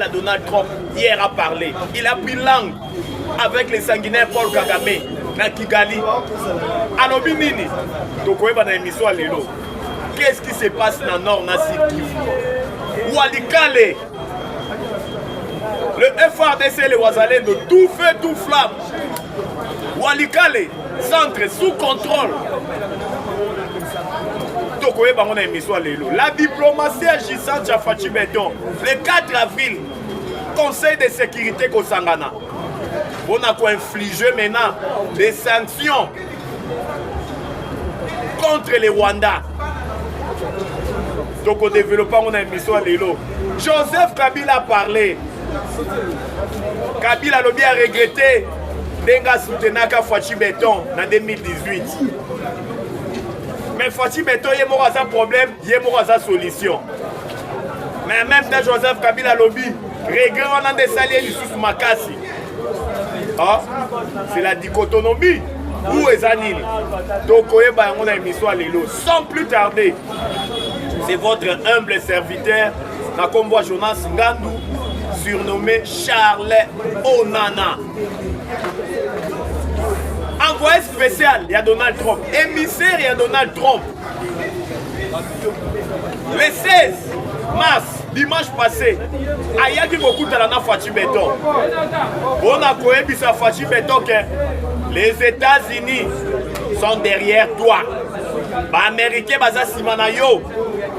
à Donald Trump hier a parlé. Il a pris langue avec les sanguinaires Paul Kagame na Kigali. Alobi nini? Tokoyeba na émission lelo. Qu'est-ce qui se passe na Nord na Sud Kivu? Walikale le FRDC et les Wazalendo, tout feu, tout flamme, walikale centre sous contrôle tokoyeba yango na émission ya lelo la diplomatie ya gisant ya faci beton le 4 avril conseil de sécurité kosangana mpona koinflige maintenant des sanctions contre le rwanda tokodeveloppe yango na émission ya lelo joseph kabila parle Kabila alobi a regrette ndenge asoutenaka Fatshi Beton na 2018 mais Fatshi Beton ye moko aza problème ye moko aza solution mais même temps Joseph Kabila alobi regret wana nde esali ye lisusu makasi ah, c'est la dichotomie ou eza nini tokoyeba yango na émission ya lelo sans plus tarder c'est votre humble serviteur na kombo ya jonas ngandu surnommé charles onana envoyé spécial ya donald trump émissaire ya donald trump le 16 mars dimanche passé ayaki kokutana na faci beton mpo na koyebisa faci beton ke les états-unis sont derrière toi baaméricain baza nsima na yo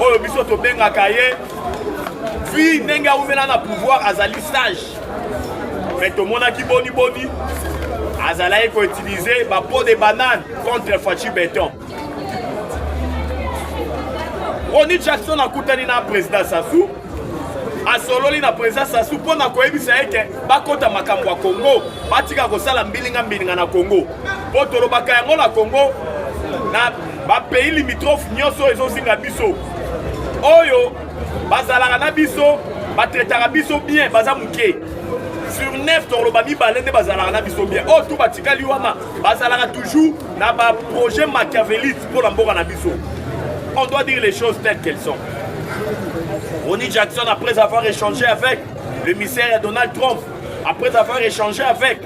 oyo biso tobengaka ye vi ndenge awumela na pouvoir azali sage mais tomonaki boniboni azalaki koutilize bapo de banane contre faci beton roni jackson akutani na président sassou asololi na président sasu mpo na koyebisa ye ke bakɔta makambo ya congo batika kosala mbilinga mbilinga na congo mpo tolobaka yango na congo na bapays limitrophe nyonso ezozinga biso oyo bazalaka na biso batretaka biso bien baza moke sur 9 tokoloba mibale nde bazalaka na biso bien oyo oh, tu batikali wana bazalaka toujours na baprojet machiavelite mpo na mboka na biso on doit dire les choses telles qu'elles sont Ronnie Jackson après avoir échangé avec le misère Donald Trump après avoir échangé avec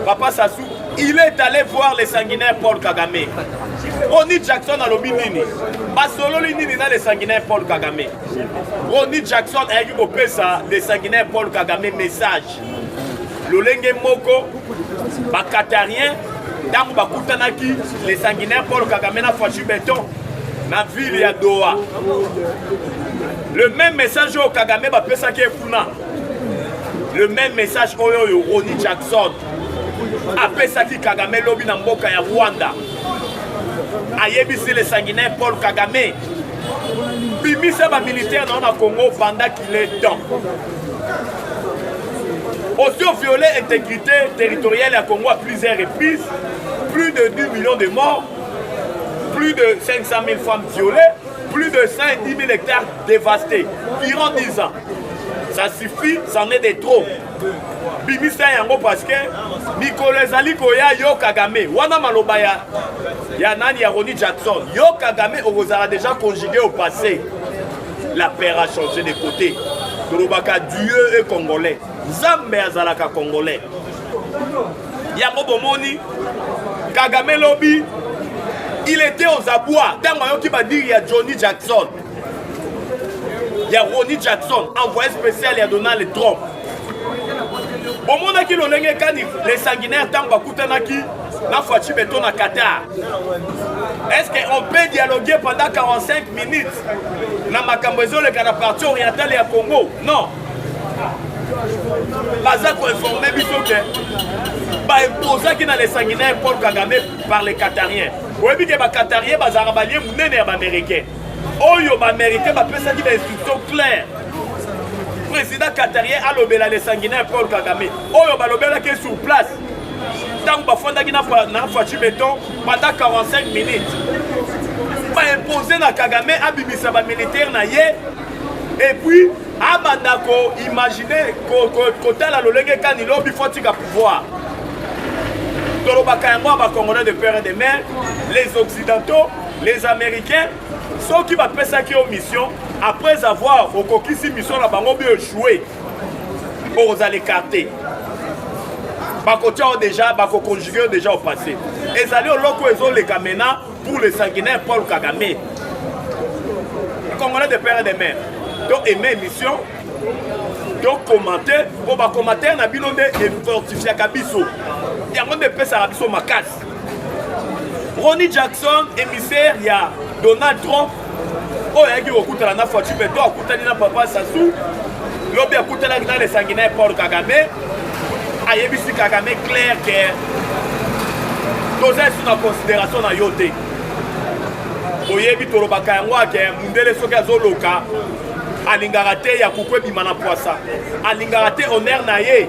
Papa Sassou il est allé voir le sanguinaire Paul Kagame Ronnie Jackson alobi nini basololi nini na le sanguinaire Paul Kagame Ronnie Jackson ayaki kopesa le sanguinaire Paul Kagame message lolenge moko bakatarien ntango bakutanaki le sanguinaire paul kagame na fachu beton na ville ya doha le même message oyo kagame bapesaki ye kuna le même message oyo oyo roni jackson apesaki kagame lobi na mboka ya rwanda ayebisi le sanguinaire paul kagame bimisa bamilitaire na yo na congo vandaki le temps aussi ont violé intégrité territoriale à Congo à plusieurs reprises plus de 10 millions de morts plus de 500 000 femmes violées plus de 110 000 hectares dévastés durant 10 ans ça suffit c'en est de trop bimisa yango parce que mikolo ezali koya yo kagame wana maloba ya, ya nani ya roni jackson yo kagame okozala déjà conjugué au passé La paire a changé de côté. Tolobaka Dieu est congolais. Nzambe azalaka congolais. Yango bomoni Kagame lobi il était aux abois ntango ayoki badiri ya Johnny Jackson ya Ronnie Jackson envoyé spécial ya Donald Trump bomonaki lolenge kani le sanguinaire ntango bakutanaki na faci beton na qatar est ce que on peut dialoguer pendant 45 minutes na makambo ezoleka na parti orientale ya congo non baza koinforme biso ke baimposaki na le sanguinaire paul kagame par le qatarien oyebi ke baqatarien bazalaka balie monene ya baaméricain oyo bamericain bapesaki ba instruction claire président qatarien alobela le sanguinaire paul kagame oyo balobelaki sur place ntango bafandaki na faci beton pendant 45 minutes baimpose na kagame abimisa bamilitaire na ye epuis abanda koimagine kotala lolenge kani lobi fo tika pouvoir tolobaka yango ya bacongolais de père et de mère les occidentaux les américains soki bapesaki yo mission après avoir okokisi mission na bango bi echoue okozala écarte bakotia yo déjà bakoconjugue yo déjà au passé ezali oloko ezoleka maintenant pour le sanguinaire paul kagame congolais de père et de mère to aime émission to commente mpo bacommentaire na bino nde efortifiaka biso yango nde epesaka biso makasi Ronnie Jackson, émissaire ya Donald Trump, oyo ayaki kokutana na Fatshi Beton, akutani na Papa Sassou, lobi akutanaki na lesangi na ye Paul Kagame, ayebisi Kagame clair que toza esu na considération na yo te. Oyebi tolobaka yango ake mundele soki azoloka alingaka te ya kuku ebima na pwasa alingaka te honere na ye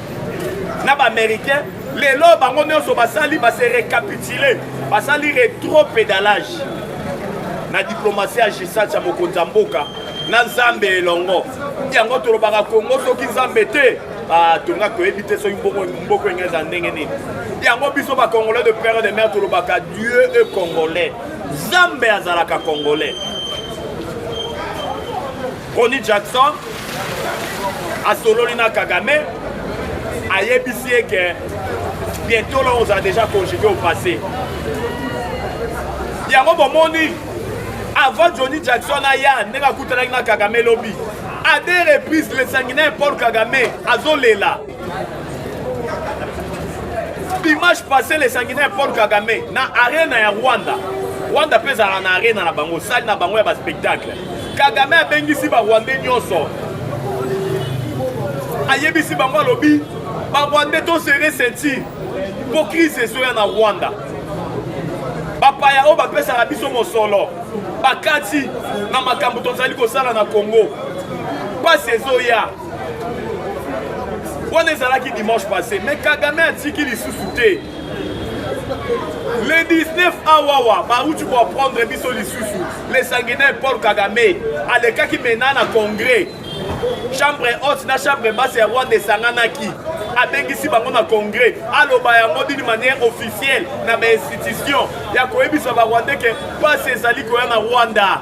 na ba américain lelo bango nyonso basali base recapitule basali retro pedalage na diplomatie ya gisat ya mokonzi ya mboka na nzambe elongo yango tolobaka kongo soki nzambe te batonga toyebi te soki mboko enge eza ndenge nini yango biso bacongolais de père de mère tolobaka dieu e congolais nzambe azalaka congolais Ronnie Jackson asololi na Kagame ayebisi ye que bientôt là on a déjà conjugué au passé yango bomoni avant Johnny Jackson aya ndenge akutanaki na Kagame lobi à deux reprises le sanguinaire Paul Kagame azolela dimanche passé le sanguinaire paul kagame na arena ya rwanda rwanda mpe ezalaka na arena na bango sali na bango ya baspectacle kagame abengisi barwandais nyonso ayebisi bango alobi barwandais tosere ceinture mpo crise ezoya na rwanda bapaya oyo bapesaka biso mosolo bakati na makambo tozali kosala na congo mpasi ezoya wana ezalaki dimanche passé mais kagame atiki lisusu te le 19 awawa bauti koaprendre biso lisusu le sanguinaire paul kagame alekaki mena na congrès chambre haute na chambre basse ya rwanda esanganaki abengisi bango na congrès aloba yango d'une manière officielle na bainstitution ya koyebisa barwandais ke mpasi ezali koya na rwanda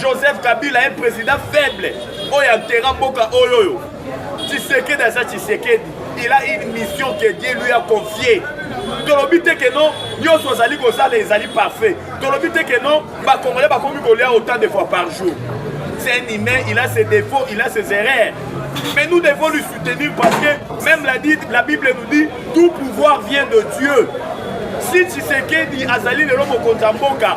Joseph Kabila un président faible oyo atera mboka oyo oyo Tshisekedi aza Tshisekedi il a une mission que Dieu lui a confiée tolobi te ke non nyonso ozali kosala ezali parfait tolobi te ke non bakongolais bakomi kolia autant de fois par jour c'est un humain il a ses défauts il a ses erreurs mais nous devons lui soutenir parce que même la, dit, la bible nous dit tout pouvoir vient de dieu si tshisekedi azali lelo mokonzi ya mboka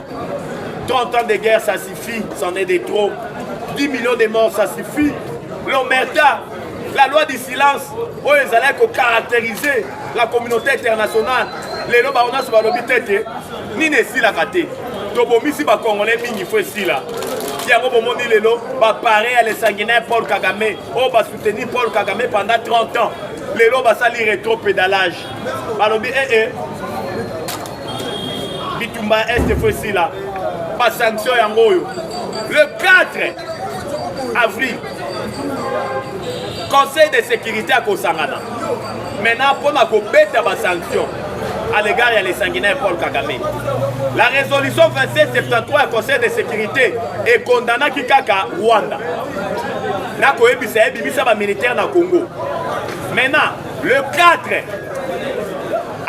30 ans de guerre, ça suffit, c'en est de trop. 10 millions de morts, ça suffit. L'Omerta, la loi du silence, oyo ezalaki kocaractériser la communauté internationale lelo bango nyonso balobi te te nini esilaka te tobomisi bacongolais mingi fo esila yango bomoni lelo bapare ya lesanguinaire paul kagame oyo basoutenir paul kagame pendant 30 ans lelo basali retro pédalage balobi ee eh, eh, bitumba ya este fo esila basanction yango oyo le 4 avril conseil de sécurité akosangana maintenant mpona kobeta basanction à l'égard ya lesanguinaire paul kagame la résolution 2773 ya conseil de sécurité ekondanaki kaka rwanda nakoyebisa ye bimisa bamilitaire na congo maintenant le 4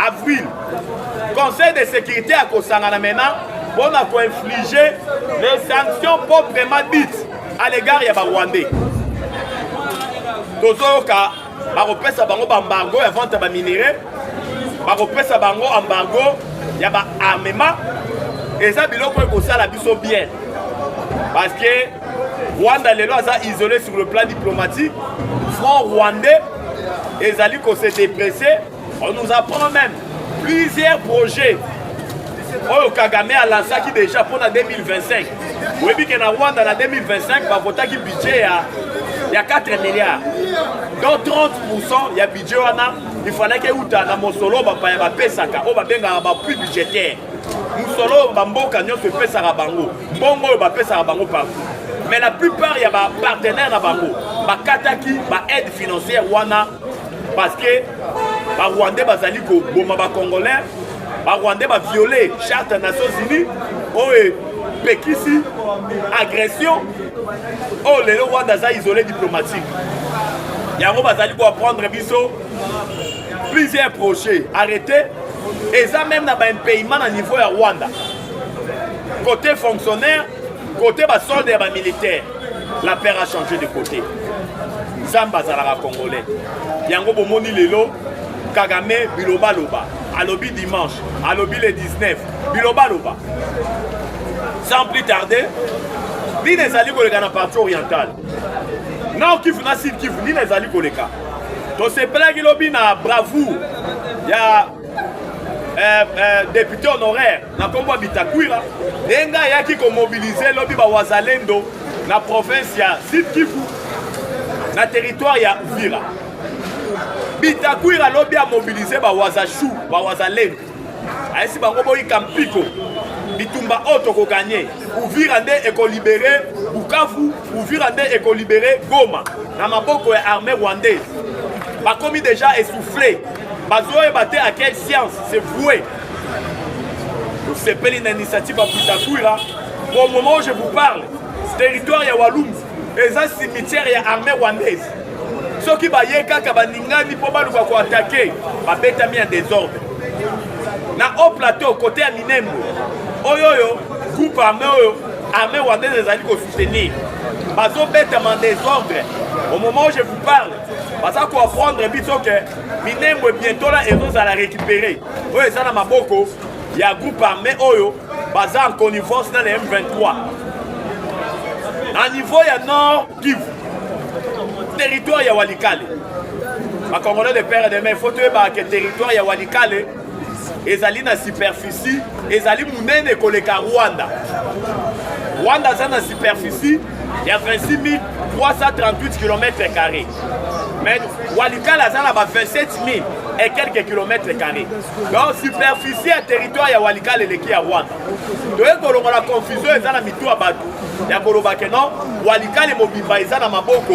avril Conseil de sécurité à Kosangana maintenant pour infliger les sanctions proprement dites à l'égard des Rwandais. tozoyoka bakopesa bango baembargo ya vente ya baminerai bakopesa bango embargo ya baarmement eza biloko ekosala biso bien parce que rwanda lelo aza isolé sur le plan diplomatique front rwandais ezali kose depresse On nous apprend même plusieurs projets oyo kagame alansaki déjà mpo na 2025 oyebi ke na rwanda na 2025 bavotaki budget ya, ya 4 milliards donc 30 pourcent ya budget wana ifalaki euta na mosolo bapaya bapesaka oyo babengaka bapui budgétaire mosolo oyo bamboka nyonso epesaka bango mbongo oyo bapesaka bango partout mais la plupart ya bapartenaire na bango bakataki baaide financière wana parce que barwandais bazali koboma bacongolais barwandais baviole charte ya nations unis oyo epekisi agression oyo lelo rwanda aza isole diplomatique yango bazali koapprendre biso plusieurs projets arrêté eza même na baimpayement na niveau ya rwanda côté fonctionnaire Kote ba solde ya ba militaire, la paire a changé de côté. Nzambe azalaka congolais. Yango bomoni lelo Kagame bilobaloba alobi dimanche alobi le 19 bilobaloba sans plus tarder nini ezali koleka na parti orientale nao kivu na sud kivu nini ezali koleka tosepelaki lobi na bravoure ya eh, eh, député honoraire na nkombo ya bitakwira ndenge ngai ayaki komobilize lobi bawazalendo na province ya sud kivu na territoire ya uvira bitakwira lobi amobilize bawazashu bawazalendo ayesi bango boyika mpiko bitumba oyo tokoganye uvira nde ekolibere bukavu uvira nde ekolibere goma na maboko ya armée rwandaise bakomi deja essouffle bazoyeba te à quelle science c'est voué tosepeli na initiative ya butakwira au moment où je vous parle territoire ya walumbu eza cimetière ya armée rwandaise soki baye kaka baningani mpo baluka koatake babetami ya desordre na haut plateau kote ya minembo oyo oyo groupe armé oyo armée rwandaise ezali kosoutenir bazobetama desordre au moment où je vous parle baza koapprendre biso ke minembwe bientola ezozala récupéré oyo eza na maboko ya groupe armé oyo baza en connivence na le m23 na niveau ya nord kivu territoire ya walikale bakongolais de père et de mère fo toyebaka ke territoire ya walikale ezali na superficie ezali monene koleka rwanda rwanda aza na superficie ya 26 338 km carré mais walikala aza na ba 27 000 et quelques kilomètres carrés donc superficie ya territoire ya walikala eleki ya rwanda toye kolongola confusion eza na mitu ya bato ya koloba ke non walikale mobimba eza na maboko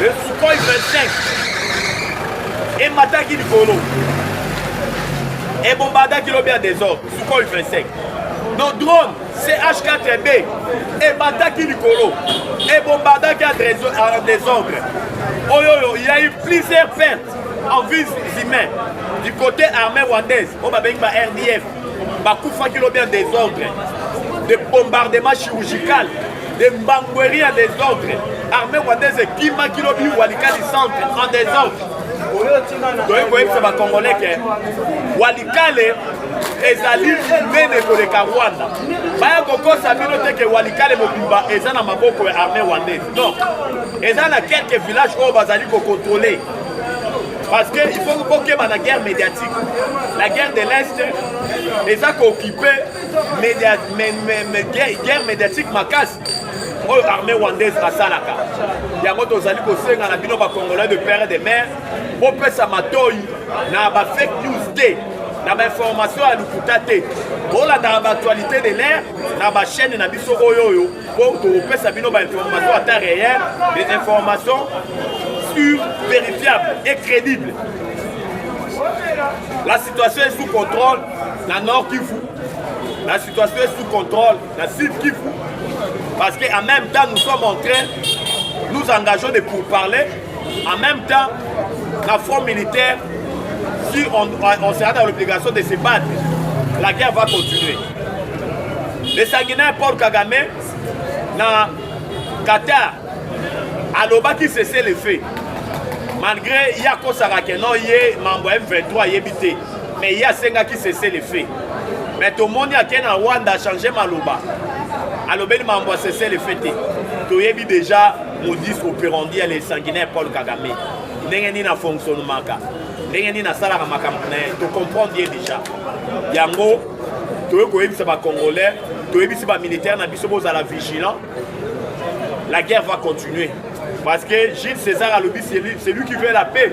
Le Sukhoi 25 emataki likolo ebombardaki lobi ya desordre Sukhoi 25 no drone CH4B emataki likolo ebombardaki ya desordre oyo oyo il y a eu plusieurs pertes en vies humaines du côté armée rwandaise oyo babengi ba RDF bakufaki lobi ya desordre de bombardement chirurgical de mbangweri ya desordre armée rwandaise ekimaki lobi walikali centre en desordre toyei koyebisa bacongolais ke walikale ezali monene koleka rwanda baya kokosa bino te ke walikale mobimba eza na maboko ya armée rwandaise non eza na quelques villages oyo bazali kokontrole parce que il faut kokeba na guerre médiatique la guerre de l'est eza kookipe media, me, me, me, guerre, guerre médiatique makasi oyo armée rwandaise asalaka yango tozali kosenga na bino bacongolais de père de mare bopesa matoi na bafake news te na bainformation ya lokuta te bolandaka baaktualité de l'air na bachaîne na biso oyo oyo mpo tokopesa bino bainformation ata réel des informations sur vérifiable et crédible la situation est sous contrôle na nord kivu la situation est sous contrôle na sud kivu parce que en même temps nous sommes en train nous engageons de pourparler en même temps na front militaire si on, on sera dans l'obligation de se battre la guerre va continuer le sanguinaire paul kagame na qatar alobaki cessez le fait malgré ye akosaka ke non ye mambo ya m23 ayebi te mais ye asengaki cesse le fait mais tomoni ake na rwanda achange maloba alobeli makambo ya cesse le fait te toyebi deja modis operandi ya le sanguinaire paul kagame ndenge nini afonctionnemaka ndenge nini asalaka makambo na ye tocomprendre ye deja yango toyei koyebisa bacongolais toyebisi bamilitaire na biso bozala vigilant la guerre va continuer parce que gilles césar alobi celui qui veut la paix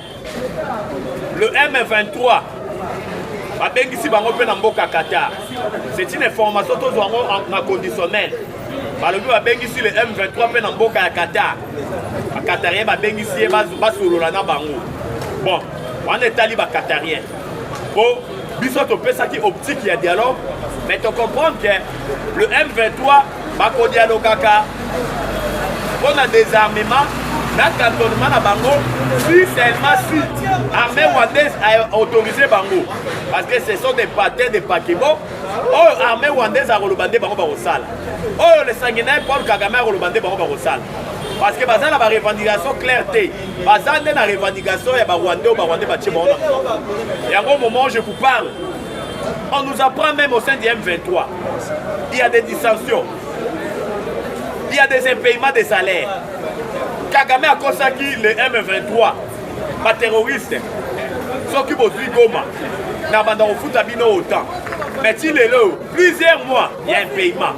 Le M23 babengisi bango mpe na mboka Qatar. C'est une information tozwa yango na conditionnel. Balobi babengisi le M23 mpe na mboka ya Qatar. Bakatarien babengisi ye basolola na bango. Bon, wana etali bakatarien. Po biso topesaki optique ya dialogue mais to comprendre que le M23 bakodialogaka mpo na désarmement na cantonnement na bango si seulement si armée rwandaise a autorisé bango parce que ce sont des patins des paquebo oyo oh, armée rwandaise akoloba nde bango bakosala oyo oh, le sanguinaire paul kagame akoloba nde bango bakosala parce que baza na barevendication claire te baza nde na revendication ya barwandais oyo barwandais batie bango na yango moment je vous parle on nous apprend même au sein du m23 il y a des dissensions il y a des impayements des salaires kagame akosaki le m23 baterroriste soki bozwi goma na banda kofuta bino otan mais ti lelo plusieurs mois ya impayement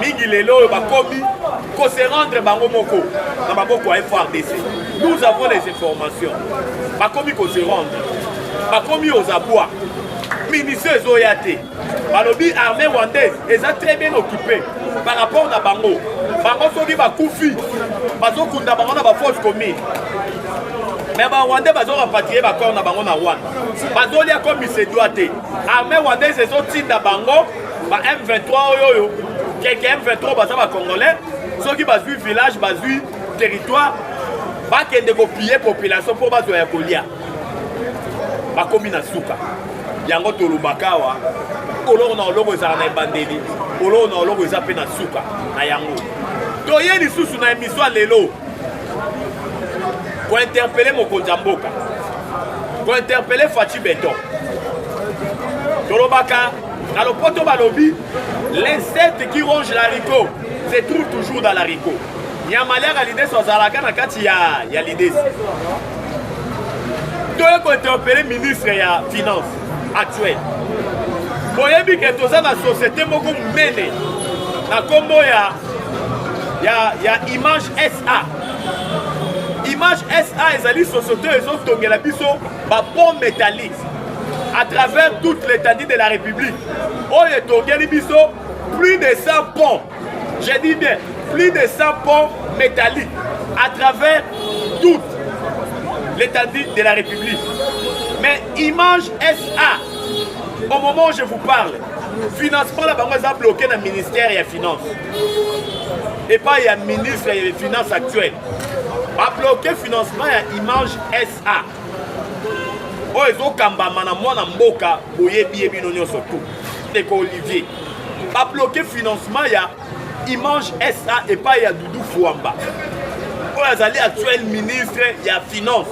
mingi lelo oyo bakomi ko se rendre bango moko na maboko ya frdc nous avons les informations bakomi ko se rendre bakomi aux abois munition ezoya te balobi armée rwandaise eza très bien occupé par rapport na bango bango soki bakufi bazokunda bango na baforce commune me barwandais bazorapatrie bacor na bango na rwanda bazolia comme isedwa te Armée rwandaise ezotinda bango ba M23 oyo oyo keke M23 baza ba congolais soki bazwi village bazwi territoire bakende kopille population mpo bazwa ya kolia bakomi na suka yango tolobaka awa oloko na oloko ezala na ebandeli oloko na oloko eza mpe na suka na yango toye lisusu na emission ya lelo kointerpele mokonzi ya mboka ko interpeller Fatshi Beton tolobaka na lopoto balobi l'insecte qui ronge la rico se trouve toujours dans la rico nyama aliaka lidesi azalaka na kati ya, ya lidesi toye kointerpele ministre ya finance actuel boyebi ke toza na société moko monene na nkombo ya, ya, ya image sa Image SA ezali société ezotongela biso ba pont métallique à travers toute l'étendue de la République oyo etongeli biso plus de 100 ponts je dis bien plus de 100 ponts métalliques à travers toute l'étendue de la République mais Image SA au moment où je vous parle financement na bango eza bloqué na ministère ya finance epai ya ministre ya finance actuel babloke financement ya image sa oyo ezokambama na mwana mboka boyebi ye bino nyonso tu ndeko olivier babloke financement ya image sa epai ya dudu fuamba oyo azali actuel ministre ya finance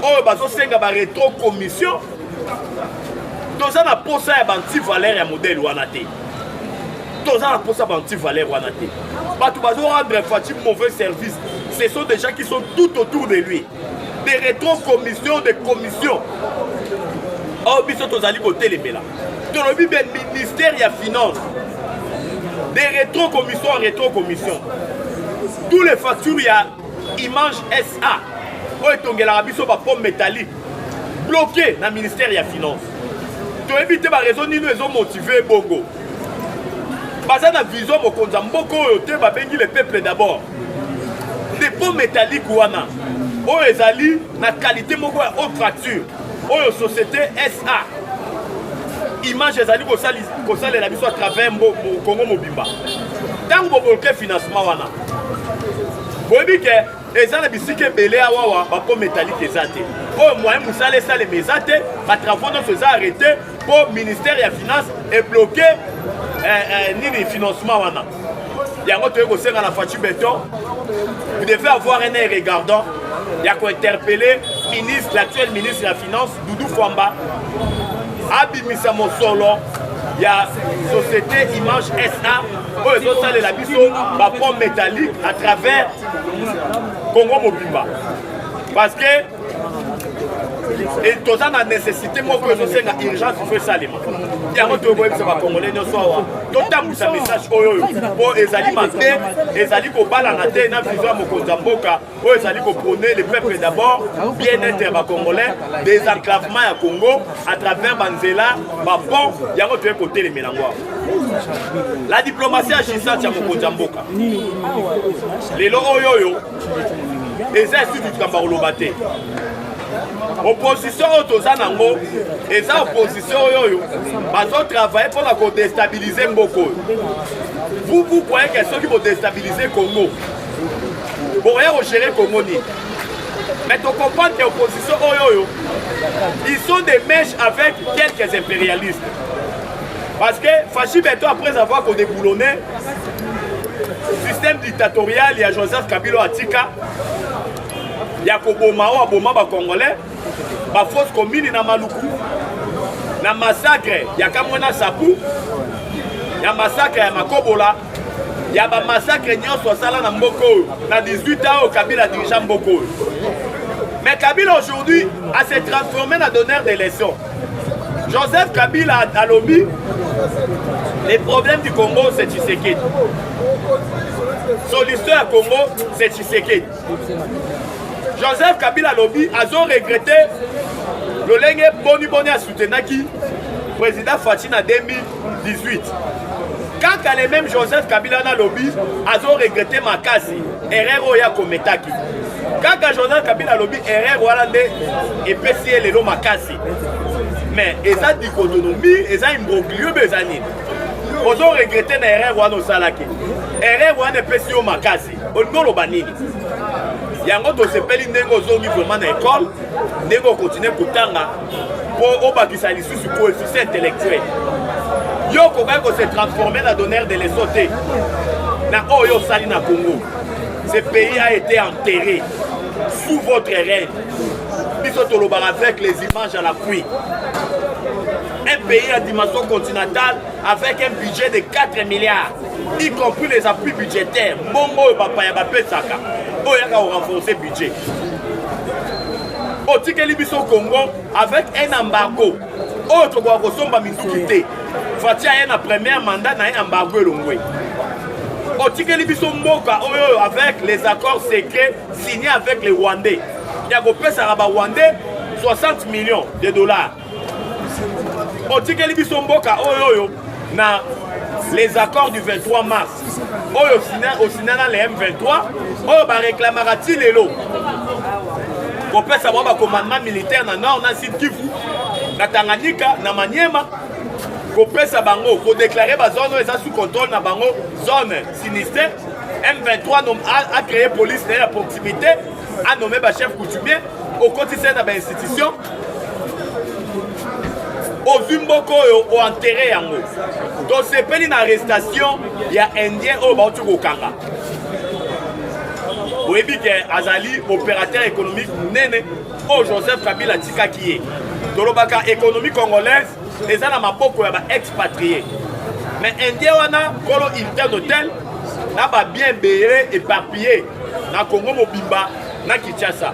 oyo bazosenga baretro commission toza na mposa ya bantivalere ya modele wana te toza na mposa banti valeur wana te bato bazo rendre faci mauvais service ce sont des gens qui sont tout autour de lui des rétro commission de commission oyo biso tozali kotelemela tolobi be ministère ya finance des rétro commission en rétro commission tous les factures ya image sa oyo etongelaka biso bapomme métallique bloke na ministère ya finance toyebi te barezo nini ezomotive bongo baza na vision mokonzi ya mboka oyo te babengi le peuple d'abord depot métallique wana oyo ezali na qualité moko ya haute facture oyo société sa image ezali kosalela biso à travers congo mobimba ntango bobolke financement wana boyebi ke eza na bisika ebele ya wawa bako metalike eza te oyo moyen mosala esalema eza te batravaux nyonso eza arrete mpo ministère ya finance ebloke eh, eh, nini financement wana yango toyei kosenga na faci beton vous devez avoir un air regardant ya kointerpelle ministre l'actuel ministre ya finance doudou fwamba abimisa mosolo ya société image sa oyo ezosalela biso bapont métallique à travers Congo mobimba parce que toza na nécessité moko ezosenga urgence fo esalema yango tokoyebisa bacongolais nyonso awa totambwisa message oyo oyo mpo ezali mabe ezali kobalana te na vision ya mokonzi ya mboka oyo ezali kopone le peuple d'abord bien-être ya bacongolais désenclavement ya congo à travers banzela bapont yango toye kotelemela yango awa la diplomatie ya gisati ya mokonzi ya mboka lelo oyo oyo eza esutu likambo ya koloba te opposition oyo toza nango eza opposition oyo oyo bazotravaille mpo na kodestabilize mboka oyo vous vous croyez que soki bodestabilize congo bokoya kogere congo nini mais tocomprendre ke opposition oyo oyo ils sont des mèches avec quelques impérialistes Parce que Fashi Beto, après avoir qu'on déboulonné, système dictatorial, il y a Joseph Kabila Atika, il y a Koboma, Aboma, ba Congolais, ba fausse commune na Maluku, na massacre, il y a Kamwana Sapou, il y a massacre, il y a Makobola, ya ba massacre nyonso asala na mboka oyo na 18 ans oyo kabila adirigea mboka oyo mais kabila aujourd'hui ase transforme na donneur de leçon joseph kabila alobi les problèmes du congo c'est tshisekedi solution ya congo c'est tshisekedi joseph kabila alobi azo regrete lolenge boniboni asutenaki président faci na 2000 18 kaka le même joseph kabila nalobi azoregrete makasi erreur oyo akometaki kaka joseph kabila alobi erreur wana nde epesi ye lelo makasi mais eza dicotonomie eza imbroglio be eza nini ozoregrete na erreur wana osalaki erreur wana epesi yo makasi olingi oloba nini yango tosepeli ndenge ozongi vraimen na ekole ndenge okontinue kotanga mpo obakisa lisusu coefficient intellectuel yo okokaki kose transforme na donneur de leso te na oyo osali na congo ce pays a été enterré sous votre règne biso tolobaka avec les images à la pluie un pays à dimension continentale avec un budget de 4 milliards y compris les appuis budgétaires mbongo oyo bapaya bapesaka oyo yaka korenforce budget otikeli biso congo avec un embargo oyo tokoka kosomba minduki te fati aye na première mandat na ye embargo elongwe otikeli biso mboka oyo avec les accords secrets signés avec les rwandais ya kopesaka barwandais 60 millions de dollars otikeli biso mboka oyo oyo na les accords du 23 mars oyo osina na le m23 oyo bareklamaka ti lelo kopesa bango bacommandement militaire na nord na sud kivu na tanganyika na maniema kopesa bango kodeklare bazone oyo eza sous contrôle na bango zone sinistre m23 acree police na ye ya proximité anome bachef coutumier okotisa ye na bainstitution ozwi mboka oyo oentere yango tosepeli na arrestation ya indien oyo bauti kokanga boyebi ke azali opérateur économique monene oyo joseph kabila atikaki ye tolobaka économie congolaise eza na maboko ya baexpatrie mais indien wana kolo hilton hotel na babien ebele éparpille na congo mobimba na kinshasa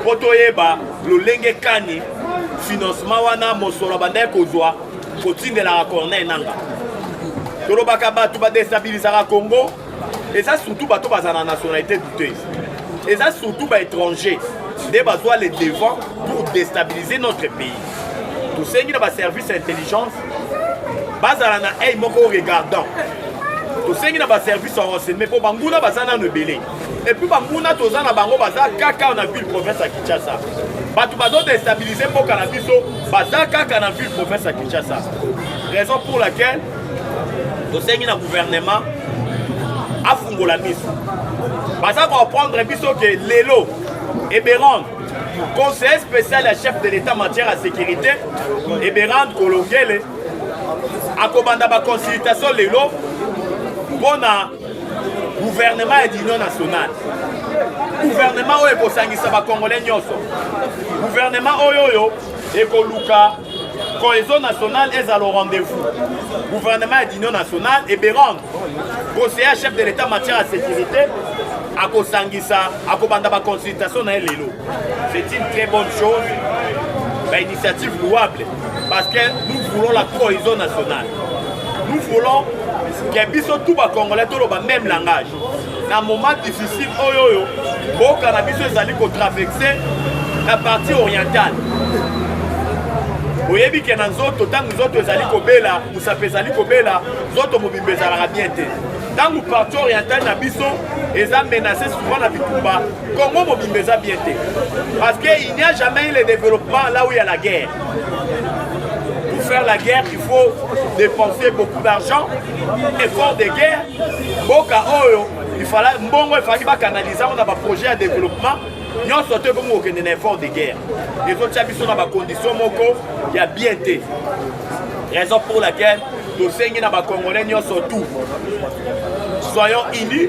mpo toyeba lolenge kani financement wana mosolo abandaki kozwa kotindelaka corneille nanga tolobaka bato badestabilisaka congo eza surtout bato bazala na nationalité douteuse eza surtout baétranger nde bazwa le devant pour déstabiliser notre pays tosengi na baservice ya intelligence bazala na eye moko regardant tosengi na baservice ya renseignement mpo banguna baza nano ebele et puis banguna toza na bango baza kaka na ville province ya kinshasa bato bazo destabilise mboka na biso baza kaka na ville province ya kinshasa raison pour laquelle tosengi na gouvernement afungola miso baza koaprendre biso ke lelo eberande conseiller spécial ya chef de l'état matière ya sécurité eberande kolongele akobanda baconsultation lelo mpo na gouvernement ya union nationale gouvernement oyo ekosangisa bakongole nyonso gouvernement oyo oyo ekoluka cohesion nationale ezala au rendez-vous gouvernement ya union nationale eberande conseiller chef de l'état matière ya sécurité akosangisa akobanda baconsultation na ye lelo c'est une très bonne chose bainitiative louable Parce que nous voulons la cohésion nationale. Nous voulons que biso tout ba congolais toloba même langage. Na moment difficile oyo oyo boka na biso ezali ko traverser na partie orientale. oyebi ke na nzoto ntango nzoto ezali kobela mosapi ezali kobela nzoto mobimba ezalaka bien te ntango parti orientale na biso eza menase souvent na bitumba Congo mobimba eza bien te parce que il n'y a jamais eu le développement là où il y a la guerre. Pour faire la guerre, il faut dépenser beaucoup d'argent, effort de guerre. Boka oyo, il fallait mbongo il fallait canaliser on a ba projet à développement. nyonso te ekomi kokende na effort de guerre ezotya biso na bakondition moko ya bien te raison pour laquelle tosengi na bacongolais nyonso tout soyons unis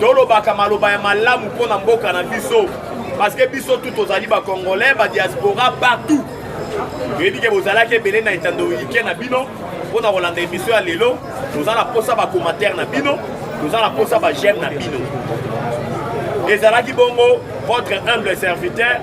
tolobaka maloba ya malamu mpo na mboka na biso parce que biso tout tozali bacongolais badiaspora partout toyebi ke bozalaki ebele na etando ike na bino mpo na kolanda emission ya lelo toza na mposa bacommentaire na bino toza na mposa bageme na bino ezalaki bongo votre humble serviteur